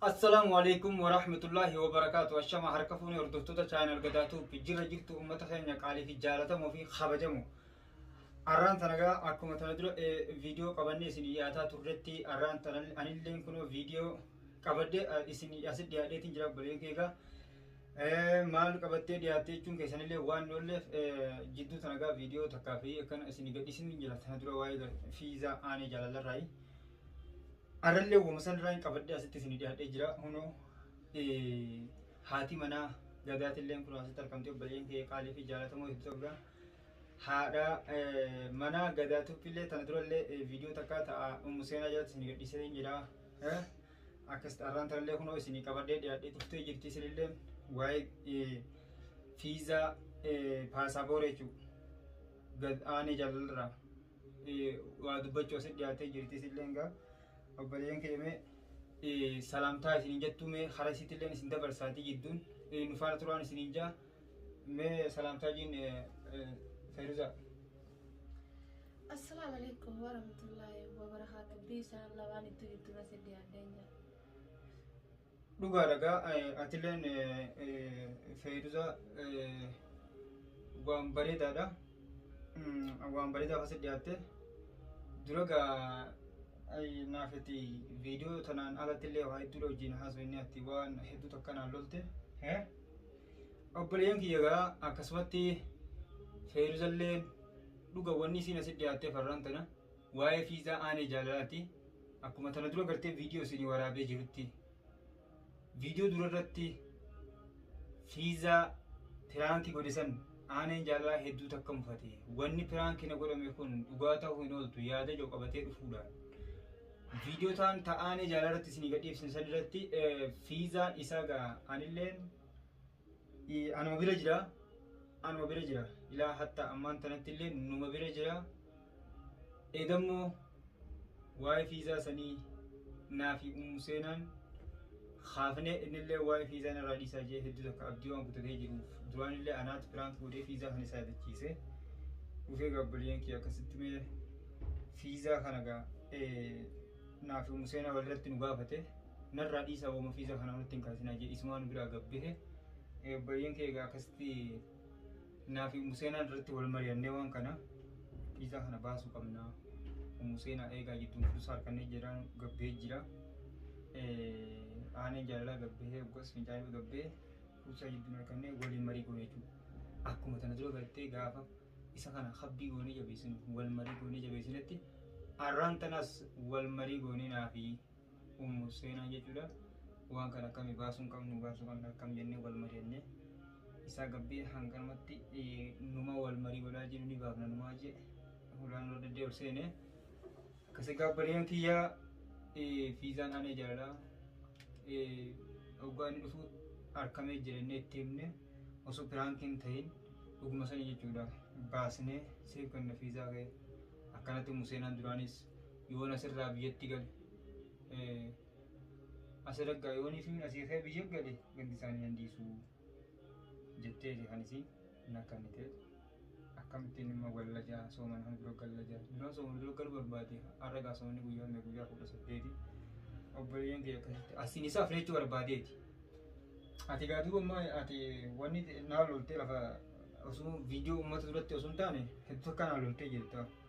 Assalaamu alaikum wa rahmatullahi wa barakaatu. Ashama harka fuunee hordoftoota chaayinal gadaatuuf jirra jirtu uummata keenya qaalii fi jaalatamoo fi kabajamu. Arraan tanagaa akkuma tana dura viidiyoo qabannee isin dhiyaataa turretti arraan tana anillee kunoo viidiyoo qabadde isin asi dhiyaadheetiin jira baleen keegaa. Maal qabattee dhiyaattee jechuun keessanillee waan oolleef jidduu tanagaa viidiyoo takkaa fi akkana isin gadhiisin jira tana dura waa'ee fiizaa aanee jaalallarraayi. Arrallee woma sanirraan qabadhee asitti isinii dhiyaadhee jira. Hunoo haati manaa gadaatilleen kunoo asitti argamtee obboleeyyan kiyya qaalii fi jaalatamoo hedduu qabda. Haadha manaa gadaa tuppillee tana durallee viidiyoo takkaa ta'a ummu seenaa jalatti isinii gadhiisee hin jira. Akkasitti arraan tanallee kunoo isinii qabadhee dhiyaadhee dhuftee jirti isinillee waa'ee fiizaa paasaaboora jechuudha. Gad aanee jaalalraa. waa dubbachuu asitti dhiyaatee jirti isillee egaa obboleeyyan keemee salaamtaa isiniin jettuu mee hara isiitti illee isin dabarsaatii jidduun nu faana turaan isiniin jaa mee salaamtaa jiin feeruzaa. Assalamu alaikum warahmatullahi wabarakatuh. Biisaan lawaan itti jirtu base diyaadeen jira. Dhugaadha gaa atileen feeruza waan bareedaadha. Waan bareedaaf asi dhiyaatte. Dura gaa naaf itti viidiyoo tanaan alatti illee waa hedduudha wajjin haasofne ati waan hedduu takka naan lolte. Obboleeyyan kiyya gaa akkasumatti feeruzalleen dhuga wanni isiin asi dhiyaattee farraan tana. Waa'ee fiizaa aanee jaalalaati. Akkuma tana dura gartee viidiyoo isinii waraabee jirutti viidiyoo dura irratti fiizaa piraankii godhe san aaneen jaalalaa hedduu takka mufate. Wanni piraankii na godhame kun dhugaa ta'uu hin ooltu yaada ijoo qabatee dhufuudhaan. Viidiyoo taan ta aanee jaalala irratti isinii gadhiifsin san irratti fiizaan isaa gaa anilleen Ee, anuma bira jira anuma bira jira ilaa hatta ammaan tanatti illee numa bira jira eegammoo waa'ee fiizaa sanii naa fi ummu seenaan kaafnee innillee waa'ee fiizaa narraa dhiisaa jee hedduu takka abdii waan kutatee jiruuf duraan illee anaatti piraank godhee fiizaa kan isaa yaadachiise dhufee gaabbaliyeen kee akkasitti mee fiizaa kana gaa ee, naa fi ummu seenaa walirratti nu gaafate Narraa dhiisaa woma fiiza kana nutti hin kaasinaa jee isumaa nu biraa gad bahe. Eh, Obboleeyyan kee egaa akkasitti naa fi Ummu Seenaan irratti wal mari'annee waan kana fiiza kana baasuu qabna. Ummu Seenaa eegaa jidduun fursaa harkannee jedhaan gad bahee jira. Eh, Aaneen jaalalaa gad bahee oggas fincaanii gad bahee fursaa jidduun harkannee waliin marii goone jechuudha. Akkuma tana dura bartee gaafa isa kana habbii goonee jabeessinu wal marii goonee jabeessinetti arraan tanas wal marii goonee naa fi ummu seenaa jechuudha waan kana akkami baasuun qabnu baasuu qabna akkam jennee wal mari'anne isaa gabbii hanganumatti numa wal marii godhaa jiru ni baafna numaa jee hulaan ol daddee ol seene akkasii gaabbaliyaan kiyyaa fiizaan aanee jaalala oggaa inni dhufu arkamee jirennee itti himne osoo piraankiin ta'in dhuguma sanii jechuudha baasnee siif kenna fiizaa kee akkanatti museenaan duraanis yoon asirraa biyyatti gale asiraggaa yoonii fi asii kee biyya gale gandi isaanii nan dhiisuu jettee kan isiin hin akkannitee akkamittiin immoo galla jaa sooman kan dura galla jaa innoo sooman dura galu barbaade arragaa soomni guyyaa mee guyyaa kudha saddeeti obboleeyyan kee akkasitti asiin isaa fireechuu barbaadeeti ati gaa dura immoo ati wanni naa loltee lafa osoo viidiyoo uummata duratti osoo hin taane hedduu akka naa loltee jirta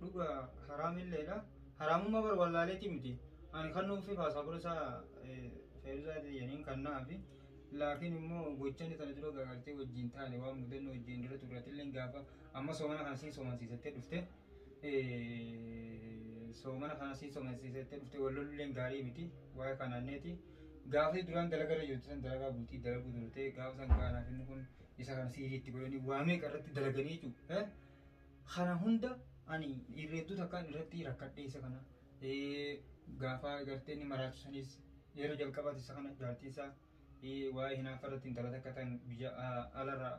dhuga haraamilleedha. Haraamummaa bar wallaaleetii miti. Ani kan nuufi paasaapora isaa feeruzaa jedhaniin kan naafi. Laakiin immoo gochaan sana dura gagartee wajjin taane waan mudannoo wajjin dura turratillee gaafa amma soomana kana siin soomansiisattee dhufte. Soomana kana siin soomansiisattee dhufte wallolulleen gaarii miti. Waa'ee kanaanneeti. Gaafii duraan dalagarra jirtu san dalagaa bultii dalaguu turte gaafa san gaanaaf inni kun isa kana siiriitti godhanii waamee qarratti dalaganii jechuudha. Kana hunda ani irreedduu takkaan irratti rakkadhee isa kana gaafa gartee inni maraachu sanis yeroo jalqabaati isa kana jaartii isaa waa'ee hinaafa irratti intala takka tan biyya alarra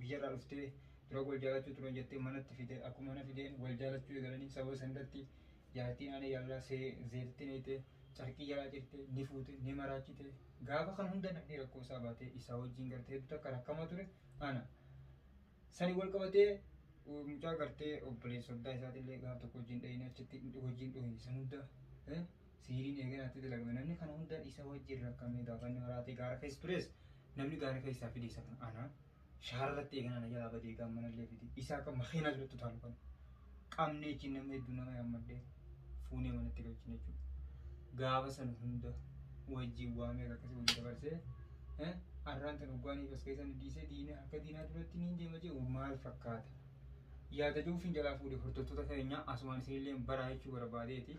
biyyarraa dhuftee dura wal jaalachuu turan jettee manatti fide akkuma mana fideen wal jaalachuu eegalanii sababa san irratti jaartiin aanee jaalalaa see zeerti neeyte carqii jalaa cirte ni fuute ni maraachite gaafa kan hunda namni rakkoo isaa baatee isaa wajjin gartee hedduu takka rakkama ture ana Sani wal qabatee mucaa gartee obboleessa soddaa isaati illee gaaf tokko hojiin dhahina achitti hojiin dhohi san hunda siiriin eegan atti dalagame namni kana hunda isa wajjin rakkamee gaafanni maraatee gaara keessa tures namni gaara keessaa fide isa kana ana shaara irratti eegan ana jalaa badee gaammanallee fide isa akka makiinaa jirutti utaalu kana qabnee achiin namni hedduu nama yaammadhee fuunee manatti galchine jechuudha. Gaafa san hunda wajjin waa meeqa akkasii wajjin dabarsee eh, arraan tan hoggaanii bas keessan dhiisee diinee harka diinaa duratti niin deema jee maal fakkaata. Yaada jiruuf hin jalaa fuudhe hordoftoota keenyaa asumaan isinillee baraa jechuu barbaadeeti.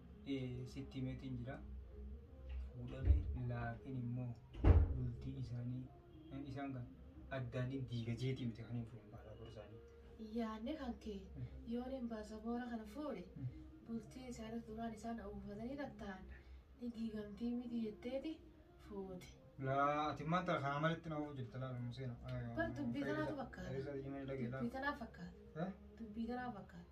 sitti himeetiin jira fuudhame laakiin immoo bultii isaanii eh, isaan kan addaaniin diiga jeetii miti kan hin fuudhan baasaaboor isaanii. Yaadni kan kee yoon hin baasaboora kana fuudhe bultii isaanii duraan isaan uwwifatanii kan ta'an ni diigamtii miti jetteeti fuute. Laa ati maanta kanaa malitti na ofu jirta laa nu seena. Bar dubbii tanaatu fakkaata. Dubbii tanaa fakkaata. Dubbii tanaa fakkaata.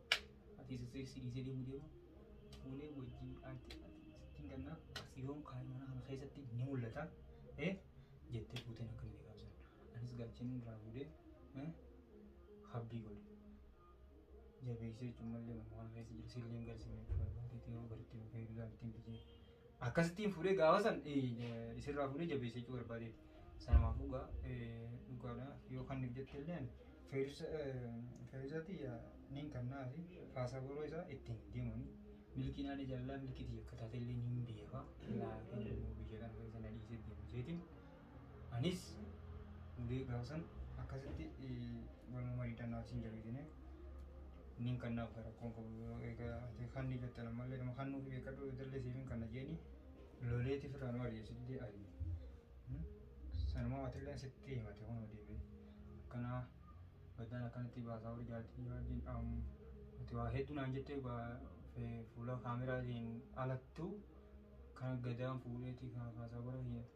Ati isa si dhiisee deemu deemu fuulee wajjin aartee ittiin gannaa yoom kaa'e mana kana keessatti ni mul'ata. Eh jettee fuuteen akka inni gaafsan. Anis gaacheen irraa fuudhee eh habbii godhe. Jabeessee jechuun malee mana kana keessa jiru silleen garsimee barbaadee yoo baritti dhufee ilaaltiin biyee Akkasittiin fuudhee gaafa san isirraa fuudhee jabeessee jechuu barbaadeeti. Sanumaaf dhugaa dhugaadha yoo kan nuuf jette illee feerizati niin kannaa fi faasaboroo isaa ittiin deemuun milkiin ani jaalala milkiitii akka taate illee niin beeka. Laafiin immoo biyya kana keessa na dhiisee deemu isheetiin. Anis ulee gaafa san akkasitti walumaa marii dannaaf siin jabeesine niin kan naaf gara koon qabu egaa ati kan ni jettan ammallee nama kan nuuf beekadhu dallee siifin kan na jeeni loleeti firraa nu ari'eessitee ayi sanumaa watilleen sitti himate kun deebi'e akkanaa baddaan akkanatti baasaa warri jaartii wajjin ati waa hedduu naan jettee fuula kaameraatiin alattuu kan gadaan fuudheeti kan kaasaa warra hiyyatu.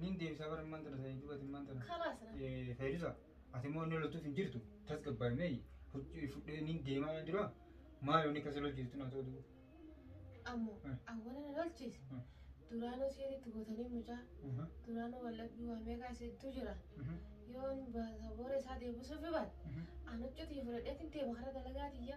Nin deebisaa bara immaan tana sanii duubati immaan tana. Kalaas na. Fayyisa ati immoo inni loltuuf hin jirtu tasgabbaa'e meeyi hojii fudhee nin deemaa waan jiru maal inni akkasii lolchiistu naa ta'u Ammoo Eh. awwala na lolchiise. Eh. Duraanuu seeritti gootanii mucaa. Duraanuu wallabbii waa meeqaa seettuu jira. Yoon baasa boora isaa deebisuuf hibaat. Anuccutii fudhadheetiin deema karaa dalagaa tiyya.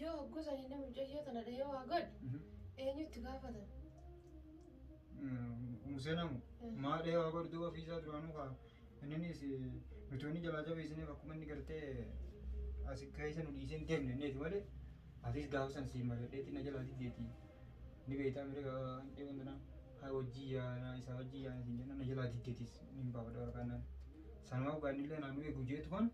Yoo hogguu sanii inni mucayyoo tana dhahee waa godhe eenyu itti gaafatan? Musee namu maa dhahee waa godhe duuba ofiisaa duraanuu kaa inninis nuti wanni jalaa jabeessineef akkuma inni gartee asi keessa nu dhiisee hin deemne inneeti malee atis gaafa san siin maladheetti na jalaa diddeeti ni beektaa mire handhee wantanaa haa wajjii yaana isaa wajjii yaana siin jenna na jalaa diddeetis ni hin baafadha waraqaannaan sanumaa ogaannillee naannoo eegu jeetu kan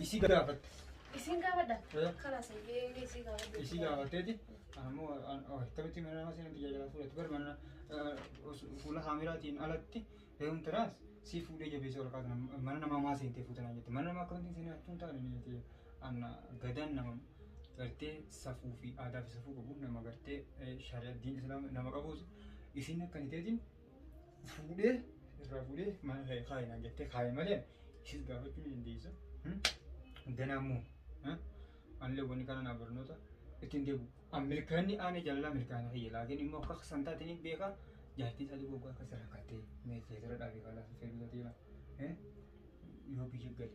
Isii gaafatte. Isiin gaafadha. Eh. Kalaas eeyyee isii gaafadha. Isii gaafatteeti. Ammoo akkamitti mana nama seenan biyya jalaa fuudhatti bar mana fuula haamiraatiin alatti heeruun tiraas si fuudhee jabeessee ol kaatan mana namaa maa seentee fuutanaa jette. Mana namaa akkamitti seenaa attuun taane ni jette. Anna gadaan nama gartee safuu fi aadaa fi safuu qabu nama gartee shari'a diin islaama nama qabuus isin akkaniteetiin fuudhee irraa fuudhee mana kee kaa'i naan jettee kaa'i malee ishis gaafachuu ni dandeessa. Ganaa immoo anillee wanni kana naa barnoota ittiin deebi'u. An milkaa'inni aanee jaalalaa milkaa'ina kiyya laakiin immoo akka san taate ni beeka jaartii isaa dhibuu akka rakkattee meeshaa jira dhaabee kaalaa fedhuu yoo biyya gale.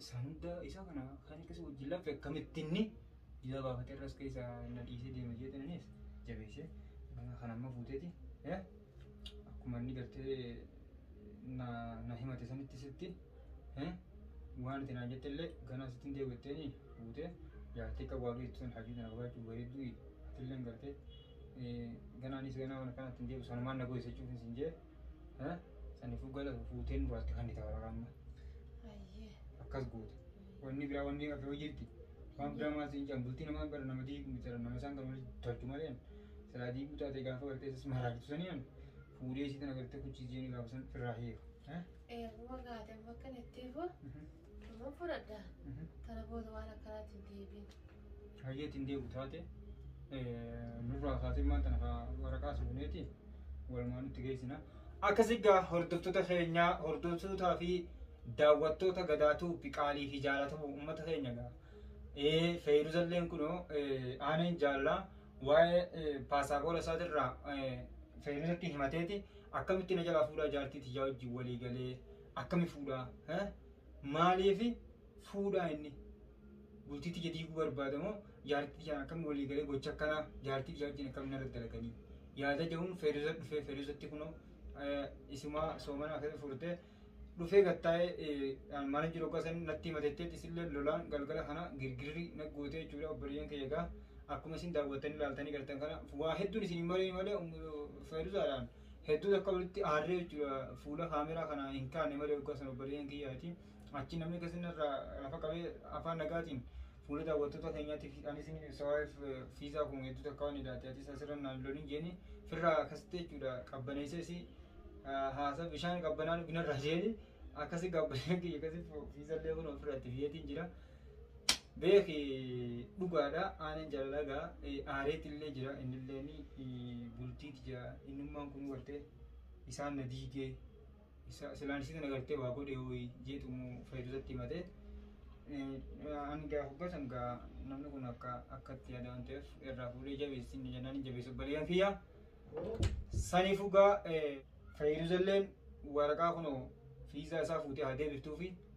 Isaan hunda isa kana kan akkasii wajjin laffe akkamitti inni jila baafatee irras keessa na dhiisee deema jeetan anis jabeessee nama kana amma fuuteeti akkuma inni gartee na na himate sanitti sitti waan itti naan jette illee ganaa sitti hin deebi'atteeni fuutee jaartii qabu waan beektu sun hajii tana barbaachuu bareedduu atillee gartee ganaanis ganaa waan akkanatti hin deebi'u sanumaan na goyisa jechuufin sin jee Ha? Sanifuu gala fuutee nurraatti kannita warra amma. Ayyee. Akkas goota. Wanni biraa wanni hafee jirti. Waan biraa maal siin jedhan bultii namaa bara nama diigu miti jedhan nama isaan kan walitti tolchu malee an. Silaa diiguu taatee gaafa gartee isas maraartu sanii an fuudhee isii tana gartee kuchiisii jedhanii gaafa san irraa hiiru. Ha? Eeguma gaate bakka nittiifu. Mhm. Nama fudhadha. Kana booda waan akkanaatti hin deebiin. Hayyeetti hin deebi'u taate nurraa kaatee maanta nafa waraqaa suuneeti walumaan itti geessina. Akkas egaa hordoftoota keenyaa hordoftootaa fi daawwattoota gadaatuu fi qaalii fi jaalatamu uummata keenya egaa. Ee feeruzalleen kunoo aaneen jaallaa waa'ee paasaaboola isaatirraa feeruzatti himateeti akkamitti na jalaa fuudhaa jaartii tiyyaa wajjin walii galee Akkami fuudhaa? He? Maaliifi fuudhaa inni? Bultii tiyya diiguu barbaada moo jaartii tiyyaan akkami walii galee gocha akkanaa jaartii biyyaa wajjin akkami narra dalaganii? Yaada jedhuun Feeruza dhufee Feeruzatti kunoo isumaa soomana akkasii furtee dhufee gattaa'ee mana jiru gosan natti himatettee isillee lolaan galgala kana girgirri naggootee jechuudha obboleeyyan kiyya egaa akkuma isin daawwattanii ilaaltanii gartan kana waa hedduun isin hin malee malee feeruzaadhaan hedduun akka walitti aarree jechuudha fuula kaameraa kana hin kaane malee waggaa sana obboleeyyan kiyyaati achi namni akkasii irraa lafa qabee afaan nagaatiin fuula daawwattoota keenyaatti anis ni ibsawaaf fiizaa kun hedduu takka waan ilaate atis asirra naan lolin jeeni firraa akkasitti jechuudha qabbaneessee si haasa bishaan qabbanaan binarraa jeeni akkasi qabbanee kiyya akkasi fiizallee kun ofirratti fiyeetiin jira beeki dhugaadha aanan jaalalagaa aareetti illee jira inni illee ni bultiiti jira innummaan kun gartee isaan na diigee isa silaan isii tana gartee waa godhee wayii jeetumu fayyadusatti himatee hanga hubbasan gaa namni kun akka akkatti yaada waan ta'eef irraa fuudhee jabeessi inni jennaan hin jabeessu obboleeyyan kiyya saniif dhugaa fayyadus illeen waraqaa kunoo fiizaa isaa fuutee haa deebiftuufi